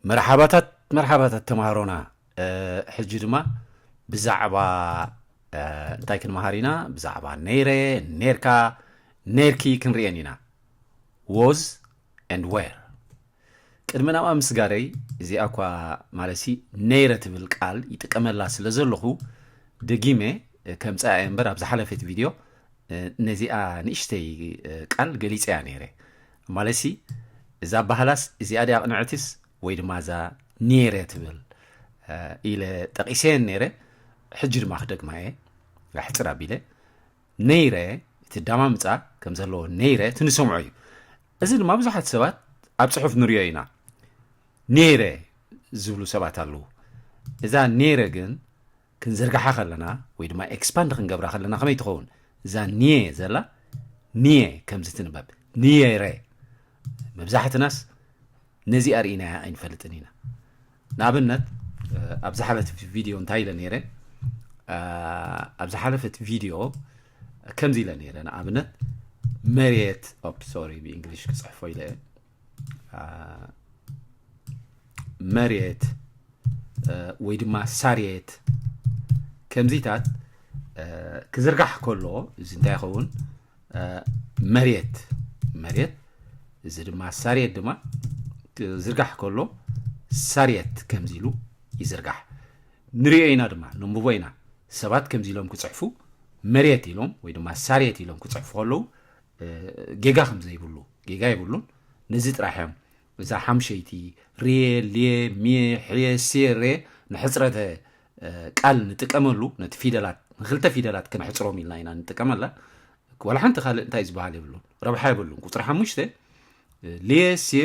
መርሓባታት መርሓባታት ተማሃሮና ሕጂ ድማ ብዛዕባ እንታይ ክንመሃር ኢና ብዛዕባ ነይረ ነርካ ነርኪ ክንርኤን ኢና ዎዝ ን ዌር ቅድሚ ናብኣ ምስጋረይ እዚኣ እኳ ማለሲ ነይረ ትብል ቃል ይጥቀመላ ስለ ዘለኹ ደጊመ ከም ፀኣየ እምበር ኣብ ዝሓለፈት ቪድዮ ነዚኣ ንእሽተይ ቃል ገሊፀያ ነይረ ማለትሲ እዛ ባህላስ እዚኣ ድያ ቅንዕትስ ወይ ድማ እዛ ኔረ ትብል ኢለ ጠቂሰየን ነይረ ሕጂ ድማ ክደግማ እየ ኣሕፅር ኣቢለ ነይረ እቲ ዳማምፃ ከም ዘለዎ ነይረ እቲ ንሰምዖ እዩ እዚ ድማ ብዙሓት ሰባት ኣብ ፅሑፍ ንሪኦ ኢና ነይረ ዝብሉ ሰባት ኣለዉ እዛ ነይረ ግን ክንዝርግሓ ከለና ወይ ድማ ኤክስፓንድ ክንገብራ ከለና ከመይ ትኸውን እዛ ኒየ ዘላ ኒየ ከምዚ ትንበብ ኒየረ መብዛሕትናስ ነዚ ኣርእናያ ኣይንፈልጥን ኢና ንኣብነት ኣብ ዝሓለፈት ቪድዮ እንታይ ኢለ ነይረ ኣብ ዝሓለፈት ቪድዮ ከምዚ ኢለ ነይረ ንኣብነት መሬት ኦፕ ሶሪ ብእንግሊሽ ክፅሕፎ ኢለ መሬት ወይ ድማ ሳርየት ከምዚታት ክዝርጋሕ ከሎ እዚ እንታይ ይኸውን መሬት መሬት እዚ ድማ ሳርየት ድማ ክዝርጋሕ ከሎ ሳርየት ከምዚ ኢሉ ይዝርጋሕ ንሪኦ ኢና ድማ ንንብቦ ኢና ሰባት ከምዚ ኢሎም ክፅሕፉ መሬት ኢሎም ወይ ድማ ሳርየት ኢሎም ክፅሕፉ ከለዉ ጌጋ ከምዘይብሉ ጌጋ ይብሉን ነዚ ጥራሕ እዮም እዛ ሓምሸይቲ ርየ ልየ ምየ ሕየ ስየ ሬ ንሕፅረተ ቃል ንጥቀመሉ ነቲ ፊደላት ንክልተ ፊደላት ከነሕፅሮም ኢልና ኢና ንጥቀመላ ወላ ሓንቲ ካልእ እንታይ ዝበሃል የብሉን ረብሓ የብሉን ቁፅሪ ሓሙሽተ ልየ ስየ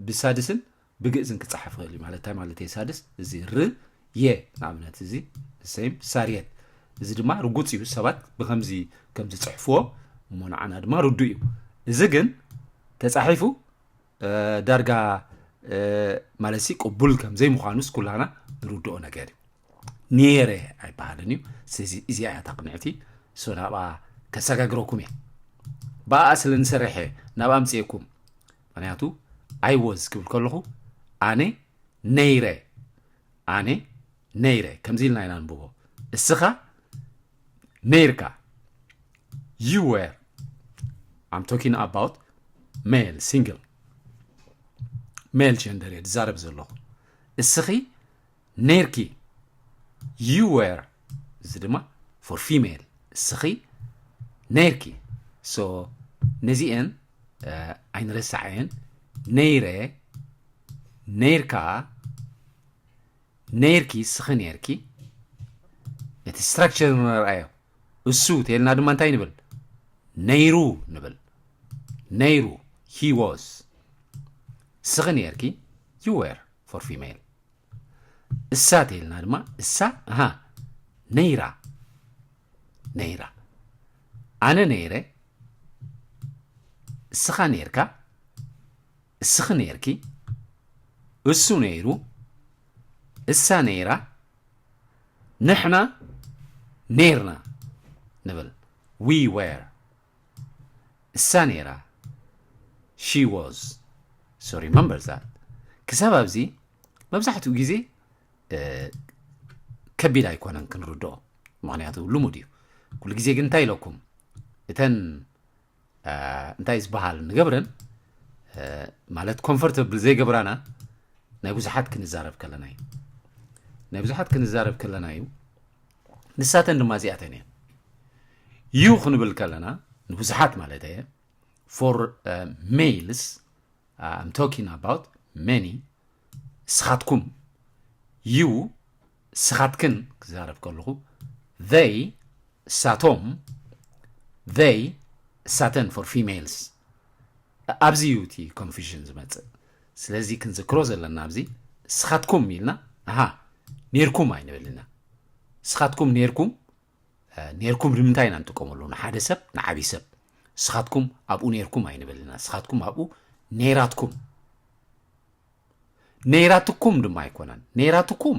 ብሳድስን ብግእዝን ክጸሓፍ ይኽእል እዩ ማለት እንታይ ማለት እየ ሳድስ እዚ ር የ ንኣብነት እዚ ሰይም ሳርየት እዚ ድማ ርጉፅ እዩ ሰባት ብከምዚ ከም ዝፅሕፍዎ እሞ ንዓና ድማ ርዱ እዩ እዚ ግን ተፃሒፉ ዳርጋ ማለት ሲ ቅቡል ከም ዘይምዃኑስ ኩላና ንርድኦ ነገር እዩ ነይረ ኣይበሃልን እዩ ስለዚ እዚኣ እያ ታቅንዕቲ ሶ ናብኣ ከሰጋግረኩም እየ ብኣ ስለ ንሰርሐ ናብ ኣምፅኤኩም ምክንያቱ ኣይ ወዝ ክብል ከለኹ ኣነ ነይረ ኣነ ነይረ ከምዚ ኢልና ኢና ንብቦ እስኻ ነይርካ ዩ ወር ኣም ቶኪን ኣባውት ሜል ሲንግል ሜል ጀንደር እየ ዝዛረብ ዘለኹ እስኺ ነይርኪ you were እዚ ድማ for female እስኺ ነይርኪ so ነዚኤን ኣይንረሳዕየን ነይረ ነይርካ ነይርኪ እስኺ ነይርኪ እቲ ስትራክቸር ንረኣዮ እሱ ተልና ድማ እንታይ ንብል ነይሩ ንብል ነይሩ ሂ ዋዝ እስኺ ነይርኪ ዩ ዌር ፎር ፊሜል እሳ ተይልና ድማ እሳ እሃ ነይራ ነይራ ኣነ ነይረ እስኻ ነይርካ እስኺ ነይርኪ እሱ ነይሩ እሳ ነይራ ንሕና ነይርና ንብል ዊ ዌር እሳ ነይራ she was so remember that ክሳብ ኣብዚ መብዛሕትኡ ግዜ ከቢድ ኣይኮነን ክንርድኦ ምክንያቱ ልሙድ እዩ ኩሉ ግዜ ግን እንታይ ኢለኩም እተን እንታይ ዝበሃል ንገብረን ማለት ኮምፎርተብል ዘይገብራና ናይ ብዙሓት ክንዛረብ ከለና እዩ ናይ ብዙሓት ክንዛረብ ከለና እዩ ንሳተን ድማ እዚኣተን እየን ዩ ክንብል ከለና ንብዙሓት ማለት እየ ፎር ሜልስ ኣም ቶኪን ኣባውት መኒ ስኻትኩም ዩ ስኻትክን ክዛረብ ከለኹ ዘይ ሳቶም ዘይ ሳተን ፎር ፊሜልስ ኣብዚ እዩ እቲ ኮንፊዥን ዝመጽእ ስለዚ ክንዝክሮ ዘለና ኣብዚ ንስኻትኩም ኢልና ኣሃ ኔርኩም ኣይንብል ኢና ንስኻትኩም ኔርኩም ኔርኩም ንምንታይ ኢና ንጥቀመሉ ንሓደ ሰብ ንዓብይ ሰብ ንስኻትኩም ኣብኡ ኔርኩም ኣይንብል ኢና ንስኻትኩም ኣብኡ ኔራትኩም ኔራትኩም ድማ ኣይኮነን ኔራትኩም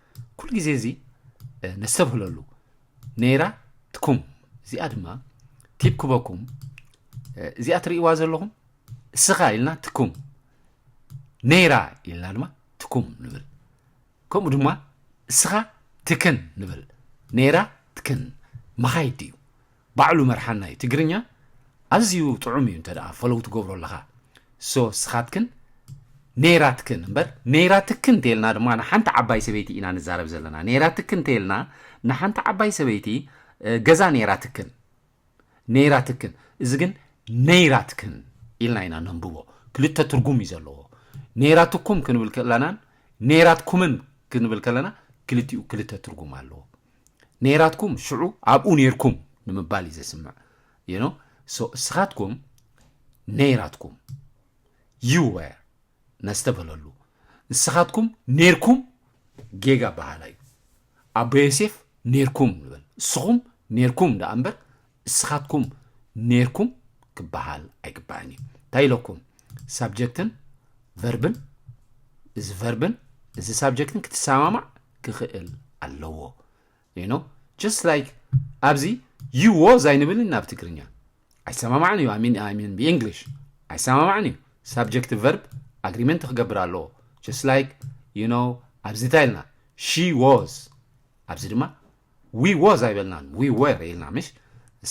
ኩሉ ግዜ እዚ ነስተብህለሉ ነይራ ትኩም እዚኣ ድማ ቲብ ክበኩም እዚኣ ትርእይዋ ዘለኹም እስኻ ኢልና ትኩም ነይራ ኢልና ድማ ትኩም ንብል ከምኡ ድማ እስኻ ትክን ንብል ነይራ ትክን መኻይድ እዩ ባዕሉ መርሓናይ ትግርኛ ኣዝዩ ጥዑም እዩ እንተ ፎሎው ትገብሮ ኣለኻ so ስኻትክን ነይራትክን እምበር ነይራትክን እንተይልና ድማ ንሓንቲ ዓባይ ሰበይቲ ኢና ንዛረብ ዘለና ነይራትክን እንተይልና ንሓንቲ ዓባይ ሰበይቲ ገዛ ነይራትክን ነይራትክን እዚ ግን ነይራትክን ኢልና ኢና ነንብቦ ክልተ ትርጉም እዩ ዘለዎ ነይራትኩም ክንብል ከለናን ነይራትኩምን ክንብል ከለና ክልቲኡ ክልተ ትርጉም ኣለዎ ነይራትኩም ሽዑ ኣብኡ ነይርኩም ንምባል እዩ ዘስምዕ you know so እስኻትኩም ነይራትኩም you were ነስተበለሉ ንስኻትኩም ነይርኩም ጌጋ በሃላ እዩ ኣቦ ዮሴፍ ነይርኩም ንበል እስኹም ነይርኩም ደኣ እምበር እስኻትኩም ኔርኩም ክበሃል ኣይግባእን እዩ። እንታይ ኢለኩም? ሳብጀክትን ቨርብን እዚ ቨርብን እዚ ሳብጀክትን ክትሰማማዕ ክኽእል ኣለዎ። ዩ ኖ ጀስት ላይክ ኣብዚ ዩ ዎዝ ኣይንብልን ናብ ትግርኛ ኣይሰማማዕን እዩ ሚን ሚን ብእንግሊሽ ኣይሰማማዕን እዩ ሳብጀክት ቨርብ ኣግሪመንት ክገብር ኣለዎ ጀስት ላይክ ዩ ኖ ኣብዚ እንታይ ኢልና ሺ ዎዝ ኣብዚ ድማ we was ኣይበልናን we were ኢልና ምሽ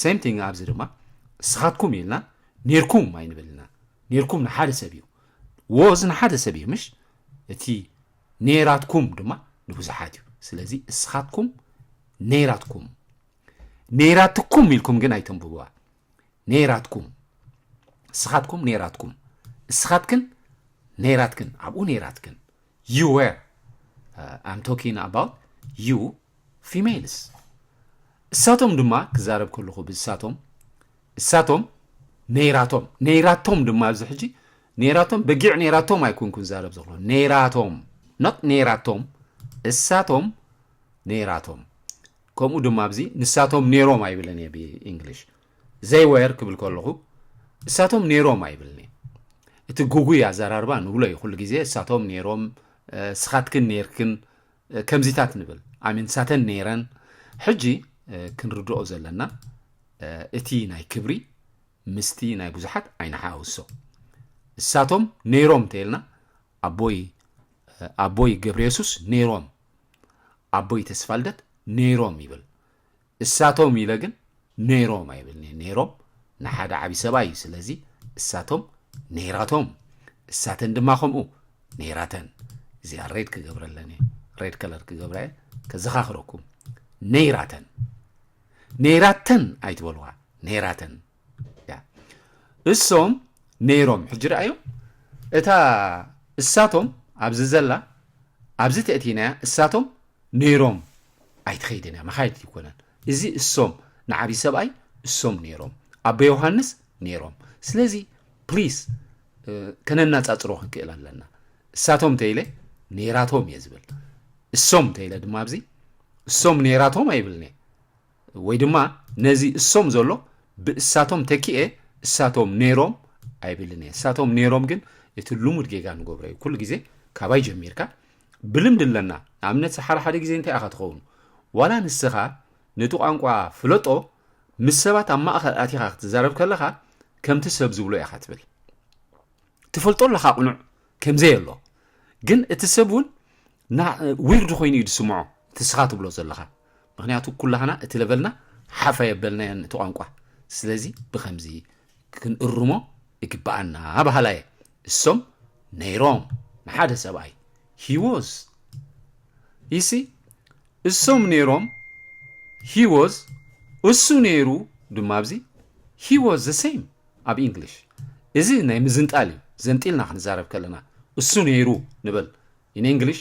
same thing ኣብዚ ድማ እስኻትኩም ኢልና ኔርኩም ኣይንብል ኢና ኔርኩም ንሓደ ሰብ እዩ was ንሓደ ሰብ እዩ ምሽ እቲ ኔራትኩም ድማ ንብዙሓት እዩ ስለዚ እስኻትኩም ኔራትኩም ኔራትኩም ኢልኩም ግን ኣይተንብብዋ ኔራትኩም እስኻትኩም ኔራትኩም እስኻትክን ኔራትክን ኣብኡ ኔራትክን ዩ ዌር ኣም ቶኪን ኣባውት ዩ ፊሜልስ እሳቶም ድማ ክዛረብ ከለኹ ብእሳቶም እሳቶም ነይራቶም ነይራቶም ድማ ኣብዚ ሕጂ ነይራቶም በጊዕ ነይራቶም ኣይኮንኩን ዛረብ ዘሎ ነይራቶም ኖት ነይራቶም እሳቶም ነይራቶም ከምኡ ድማ ኣብዚ ንሳቶም ነይሮም ኣይብለን እየ ብእንግሊሽ ዘይወር ክብል ከለኹ እሳቶም ነይሮም ኣይብልንየ እቲ ጉጉይ ኣዘራርባ ንብሎ እዩ ኩሉ ግዜ እሳቶም ነይሮም ስኻትክን ነይርክን ከምዚታት ንብል ኣሚን ንሳተን ነይረን ሕጂ ክንርድኦ ዘለና እቲ ናይ ክብሪ ምስቲ ናይ ብዙሓት ኣይንሓውሶ እሳቶም ነይሮም እንተይልና ኣቦይ ኣቦይ ገብረ የሱስ ነይሮም ኣቦይ ተስፋልደት ነይሮም ይብል እሳቶም ኢለ ግን ነይሮም ኣይብልን'የ፣ ነይሮም ንሓደ ዓቢ ሰብኣይ'ዩ፣ ስለዚ እሳቶም ነይራቶም፣ እሳተን ድማ ከምኡ ነይራተን። እዚኣ ሬድ ክገብረለን'የ፣ ሬድ ከለር ክገብራ'የ፣ ከዘኻኽረኩም ነይራተን፣ ነይራተን ኣይትበልዋ፣ ነይራተን። እሶም ነይሮም ሕጂ ረኣዩ እታ እሳቶም ኣብዚ ዘላ ኣብዚ ተእቲናያ እሳቶም ነይሮም ኣይትኸይድን እያ መኻይድ ይኮነን እዚ እሶም ንዓብዪ ሰብኣይ እሶም ነይሮም ኣቦ ዮሃንስ ነይሮም ስለዚ ፕሊስ ከነናፃፅሮ ክንክእል ኣለና እሳቶም ተይለ ነይራቶም እየ ዝብል እሶም ተይለ ድማ ኣብዚ እሶም ነይራቶም ኣይብልኒ ወይ ድማ ነዚ እሶም ዘሎ ብእሳቶም ተኪኤ እሳቶም ነይሮም ኣይብልን እየ እሳቶም ነይሮም ግን እቲ ልሙድ ጌጋ ንገብሮ እዩ ኩሉ ግዜ ካባይ ጀሚርካ ብልምዲ ኣለና ንኣብነት ሓደ ሓደ ግዜ እንታይ ኢኻ ትኸውኑ ዋላ ንስኻ ነቲ ቋንቋ ፍለጦ ምስ ሰባት ኣብ ማእኸል ኣቲኻ ክትዛረብ ከለኻ ከምቲ ሰብ ዝብሎ ኢኻ ትብል ትፈልጦ ኣለኻ ቅኑዕ ከምዘይ ኣሎ ግን እቲ ሰብ እውን ዊርድ ኮይኑ እዩ ዝስምዖ እቲ ስኻ ትብሎ ዘለኻ ምክንያቱ ኩላህና እቲ ለቨልና ሓፍ ኣየበልናዮን እቲ ቋንቋ ስለዚ ብከምዚ ክንእርሞ ይግበኣና በሃላይ እየ እሶም ነይሮም ንሓደ ሰብኣይ he was you see እሶም ነይሮም he was እሱ ነይሩ ድማ ኣብዚ he was the same ኣብ ኢንግሊሽ እዚ ናይ ምዝንጣል እዩ ዘንጢልና ክንዛረብ ከለና እሱ ነይሩ ንበል in English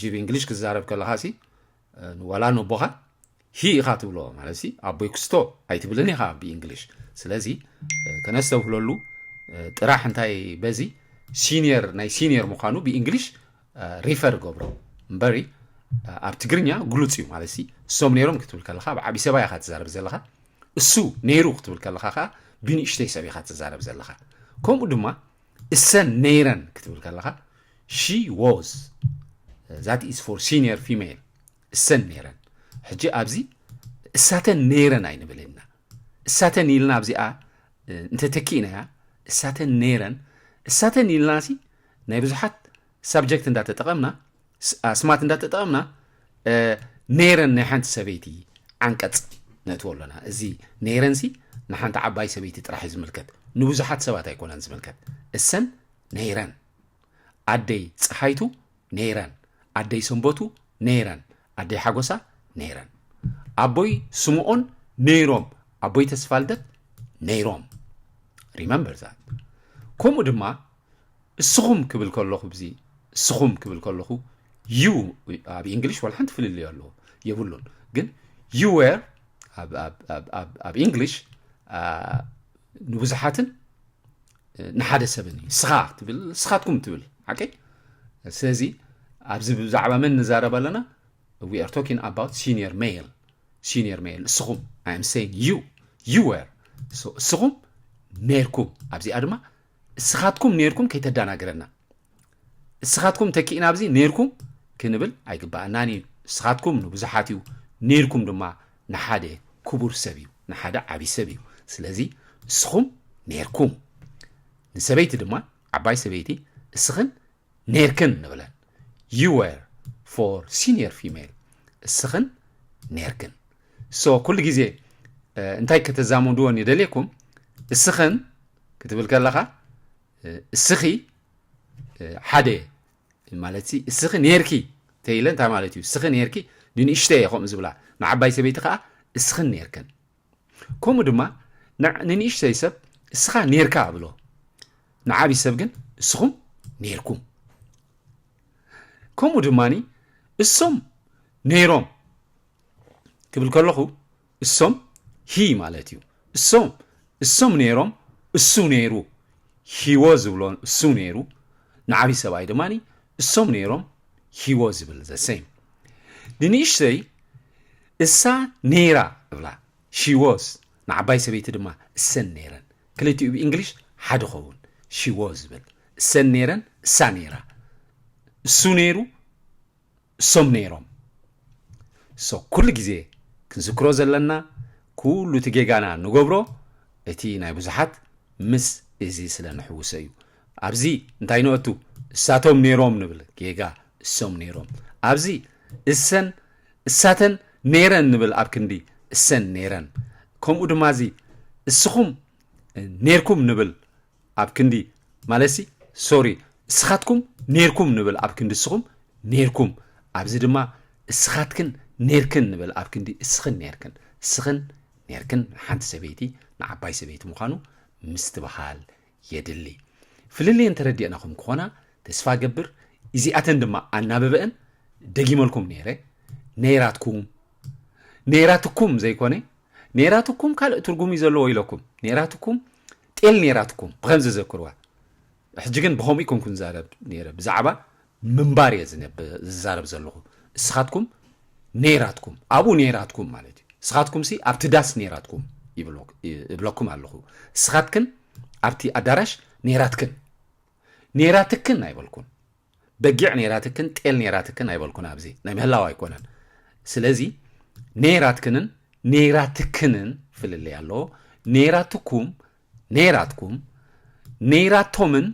ጅብ እንግሊሽ ክዛረብ ከለኻ ሲ ዋላ ነቦኻ ሂ ኢኻ ትብሎ ማለት ኣቦይ ክስቶ ኣይትብልን ኢኻ ብእንግሊሽ ስለዚ ከነስተውህለሉ ጥራሕ እንታይ በዚ ሲኒየር ናይ ሲኒየር ምዃኑ ብእንግሊሽ ሪፈር ገብሮ እምበሪ ኣብ ትግርኛ ግሉፅ እዩ ማለት እሶም ነይሮም ክትብል ከለካ ኣብ ዓብዪ ሰባ ኢኻ ትዛረብ ዘለካ እሱ ነይሩ ክትብል ከለካ ከዓ ብንእሽተይ ሰብ ኢኻ ትዛረብ ዘለካ ከምኡ ድማ እሰን ነይረን ክትብል ከለኻ ሺ ዎዝ ዛት ኢዝ ፎር ሲኒየር ፊሜል እሰን ነይረን ሕጂ ኣብዚ እሳተን ነይረን ኣይንብል ኢና እሳተን ኢልና ኣብዚኣ እንተተኪእናያ እሳተን ነይረን እሳተን ኢልናሲ ናይ ብዙሓት ሳብጀክት እንዳተጠቐምና፣ ኣስማት እንዳተጠቐምና ነይረን ናይ ሓንቲ ሰበይቲ ዓንቀጽ ነእትዎ ኣሎና። እዚ ነይረንሲ ንሓንቲ ዓባይ ሰበይቲ ጥራሕ እዩ ዝምልከት፣ ንብዙሓት ሰባት ኣይኮነን ዝምልከት። እሰን ነይረን፣ ኣደይ ፀሓይቱ ነይረን፣ ኣደይ ሰንበቱ ነይረን፣ ኣደይ ሓጎሳ ነይረን፣ ኣቦይ ስምኦን ነይሮም፣ ኣቦይ ተስፋልደት ነይሮም። ሪመምበር ዛት። ከምኡ ድማ እስኹም ክብል ከለኹ ብዚ እስኹም ክብል ከለኹ ዩ ኣብ ኢንግሊሽ ዋላ ሓንቲ ፍልልዮ ኣለዎ የብሉን ግን ዩ ዌር ኣብ ኢንግሊሽ ንብዙሓትን ንሓደ ሰብን እዩ ስኻ ትብል ስኻትኩም ትብል ሓቂ ስለዚ ኣብዚ ብዛዕባ መን ንዛረብ ኣለና ዊ ኣር ቶኪን ኣባውት ሲኒየር ሜል ሲኒየር ሜል እስኹም ኣይም ሰይን ዩ ዩ ዌር እስኹም ነርኩም ኣብዚኣ ድማ እስኻትኩም ኔርኩም ከይተዳናግረና እስኻትኩም ተኪእና ኣብዚ ኔርኩም ክንብል ኣይግባኣናን እዩ እስኻትኩም ንብዙሓት እዩ ኔርኩም ድማ ንሓደ ክቡር ሰብ እዩ ንሓደ ዓብይ ሰብ እዩ ስለዚ እስኹም ኔርኩም ንሰበይቲ ድማ ዓባይ ሰበይቲ እስኽን ኔርክን ንብለን you were for senior female እስኽን ኔርክን so ኩሉ ግዜ እንታይ ከተዛምድዎ ንደልየኩም እስኽን ክትብል ከለኻ እስኺ ሓደ ማለት እስኺ ኔርኪ ተይለ እንታይ ማለት እዩ እስኺ ኔርኪ ንንእሽተይ እየ ከምኡ ዝብላ ንዓባይ ሰበይቲ ከዓ እስኽን ኔርክን ከምኡ ድማ ንንእሽተይ ሰብ እስኻ ኔርካ እብሎ፣ ንዓብይ ሰብ ግን እስኹም ኔርኩም። ከምኡ ድማ እሶም ነይሮም ክብል ከለኹ እሶም ሂ ማለት እዩ። እሶም እሶም ነይሮም እሱ ነይሩ ሂወ ዝብሎ እሱ ነይሩ ንዓብይ ሰብኣይ ድማ እሶም ነይሮም ሂወ ዝብል ዘሰይም ንንእሽተይ እሳ ነይራ እብላ፣ She was፣ ንዓባይ ሰበይቲ ድማ እሰን ነይረን። ክልቲኡ ብእንግሊሽ ሓደ ኸውን፣ She was ብል፣ እሰን ነይረን፣ እሳ ነይራ፣ እሱ ነይሩ፣ እሶም ነይሮም። So ኩሉ ግዜ ክንዝክሮ ዘለና ኩሉ እቲ ጌጋና ንገብሮ እቲ ናይ ብዙሓት ምስ እዚ ስለ ንሕውሶ እዩ። ኣብዚ እንታይ ንእቱ? እሳቶም ነይሮም ንብል፣ ጌጋ፣ እሶም ነይሮም። ኣብዚ እሰን እሳተን ነይረን ንብል ኣብ ክንዲ እሰን ነይረን፣ ከምኡ ድማ እዚ እስኹም ነይርኩም ንብል ኣብ ክንዲ ማለትሲ ሶሪ እስኻትኩም ነይርኩም ንብል ኣብ ክንዲ እስኹም ነይርኩም፣ ኣብዚ ድማ እስኻትክን ነይርክን ንብል ኣብ ክንዲ እስኽን ነይርክን፣ እስኽን ነይርክን ንሓንቲ ሰበይቲ ንዓባይ ሰበይቲ ምዃኑ ምስትብሃል የድሊ ፍልልየን ተረዲእና ኹም ክኾና ተስፋ ገብር እዚኣተን ድማ ኣናብበእን ደጊመልኩም ነይረ ነይራትኩም ነይራትኩም ዘይኮነ ነይራትኩም ካልእ ትርጉም እዩ ዘለዎ ኢለኩም ነይራትኩም ጤል ነይራትኩም ብከምዚ ዘክርዋ ሕጂ ግን ብከምኡ ይኮንኩ ንዛረብ ነይረ ብዛዕባ ምንባር እየ ዝዛረብ ዘለኹ እስኻትኩም ነይራትኩም ኣብኡ ነይራትኩም ማለት እዩ እስኻትኩምሲ ኣብቲ ዳስ ነይራትኩም እብለኩም ኣለኹ እስኻትክን ኣብቲ ኣዳራሽ ነይራትክን ነይራትክን ኣይበልኩን በጊዕ ነይራትክን ጤል ነይራትክን ኣይበልኩን ኣብዚ ናይ ምህላው ኣይኮነን ስለዚ ነይራትክንን ነይራትክንን ፍልልይ ኣለዎ ነይራትኩም ነይራትኩም፣ ነይራቶምን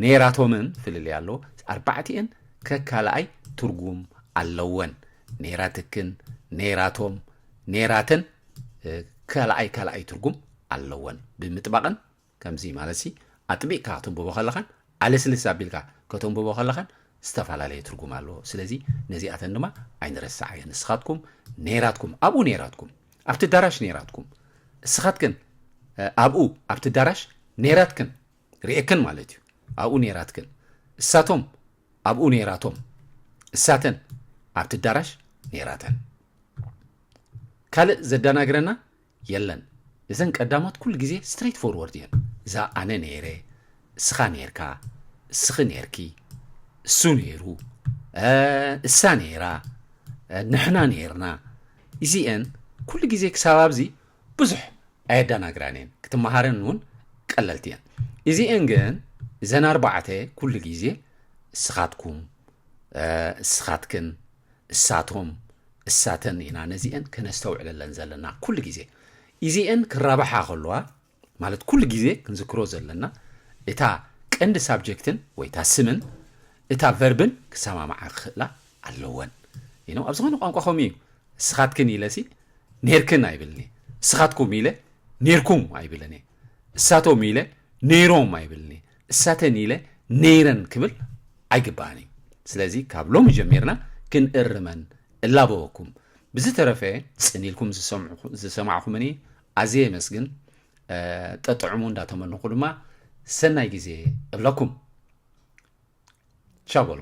ነይራቶምን ፍልልይ ኣሎ፣ ኣርባዕቲኤን ከካልኣይ ትርጉም ኣለወን፣ ነይራትክን፣ ነይራቶም፣ ነይራተን ካልኣይ ካልኣይ ትርጉም ኣለወን ብምጥባቕን ከምዚ ማለትሲ ኣጥቢቕካ ከተንብቦ ከለኻን ኣለስልስ ኣቢልካ ከተንብቦ ከለኻን ዝተፋላለየ ትርጉም ኣለዎ ስለዚ ነዚኣተን ድማ ኣይንረሳዓየን ንስኻትኩም ነይራትኩም ኣብኡ ነይራትኩም ኣብቲ ኣዳራሽ ነይራትኩም እስኻትክን ኣብኡ ኣብቲ ኣዳራሽ ነይራትክን ርኤክን ማለት እዩ ኣብኡ ነይራትክን እሳቶም ኣብኡ ነይራቶም እሳተን ኣብቲ ኣዳራሽ ነይራተን ካልእ ዘደናግረና የለን እዘን ቀዳሞት ኩሉ ግዜ ስትሬት ፎርወርድ እየን እዛ ኣነ ነይረ እስኻ ነይርካ እስኺ ነይርኪ እሱ ነይሩ እሳ ነይራ ንሕና ነይርና እዚኤን ኩሉ ግዜ ክሳብ ኣብዚ ብዙሕ ኣየዳናግራን እየን ክትመሃረን እውን ቀለልቲ እየን እዚኤን ግን እዘን ኣርባዕተ ኩሉ ግዜ እስኻትኩም እስኻትክን እሳቶም እሳተን ኢና ነዚኤን ከነስተውዕለለን ዘለና ኩሉ ግዜ ኢዚኤን ክራባሓ ከለዋ ማለት ኩሉ ግዜ ክንዝክሮ ዘለና እታ ቀንዲ ሳብጀክትን ወይ እታ ስምን እታ ቨርብን ክሰማማዓ ክኽእላ ኣለወን ይነው ኣብ ዝኾነ ቋንቋ ከምኡ እዩ እስኻትክን ኢለሲ ኔርክን ኣይብልን እየ እስኻትኩም ኢለ ኔርኩም ኣይብልን እየ እሳቶም ኢለ ነይሮም ኣይብልን እየ እሳተን ኢለ ነይረን ክብል ኣይግባእን እዩ ስለዚ ካብ ሎሚ ጀሚርና ክንእርመን እላበወኩም ብዝተረፈ ጽን ኢልኩም ዝሰማዕኹምኒ ኣዝየ የመስግን ጠጥዕሙ እንዳተመንኹ ድማ ሰናይ ግዜ እብለኩም ቻው በሉ